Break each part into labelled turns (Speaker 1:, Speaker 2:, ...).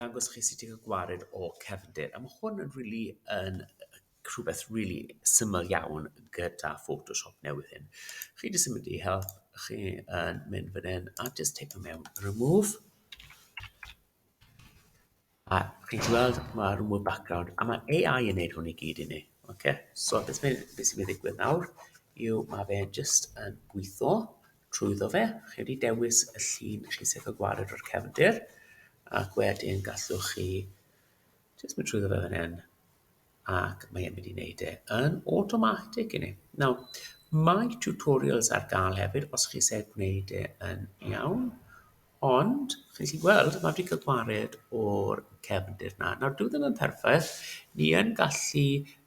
Speaker 1: dangos chi sut i gael gwared o cefndir. A mae hwn yn really yn rhywbeth really syml iawn gyda Photoshop newydd hyn. Chi jyst yn mynd i help, chi yn mynd fan hyn a jyst teipio mewn remove. A chi'n gweld mae remove background a mae AI yn neud hwn i gyd i ni. Okay? So beth sy'n mynd i ddigwydd nawr yw mae fe jyst yn gweithio Trwyddo fe, chi wedi dewis y llun i chi sef y gwared o'r cefndir, ac wedyn gallwch chi jyst mynd trwyddo fe fan hyn, ac mae e'n mynd i wneud e yn automatic i ni. Nawr, mae tutorials ar gael hefyd, os chi eisiau gwneud e yn iawn, Ond, chi'n gallu gweld, mae wedi cael gwared o'r cefndir na. Nawr, dyw e ddim yn perffaith. Ni yn gallu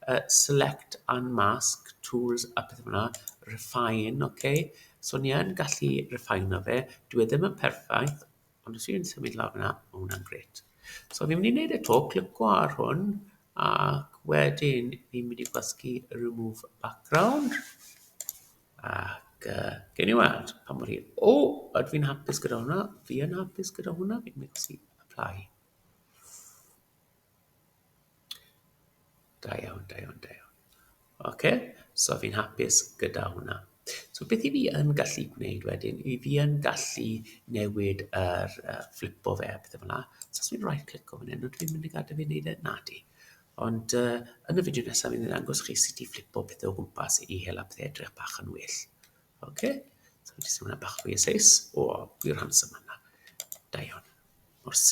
Speaker 1: uh, select and mask, tools a pethau fyna, refine, oce. Okay? So, ni yn gallu refine o fe. Dyw e ddim yn perffaith, ond os yw'n symud lawr fyna, mae hwnna'n gret. So, fi'n mynd i wneud y to, clico ar hwn, ac wedyn ni'n mynd i gwasgu remove background. Ac yy, gewn ni weld pa mor hir. O! Ydw i'n hapus gyda hwnna? Fi yn hapus gyda hwnna. Fi'n methu apply. Da iawn, da iawn, da iawn. Oce, so fi'n hapus gyda hwnna. So beth i fi yn gallu gwneud wedyn, i fi yn gallu newid yr uh, flipo fe a pethau fel yna. So os fi'n right click o fan hyn, dwi'n mynd i gadael fi wneud e? Na di. Ond yn y fideo nesaf fi'n ddangos chi sut i flipo pethau o gwmpas i hela pethau edrych bach yn well. Ok, so jyst hwnna bach fwy o seis. O, gwir handsome yna. Da iawn. Mor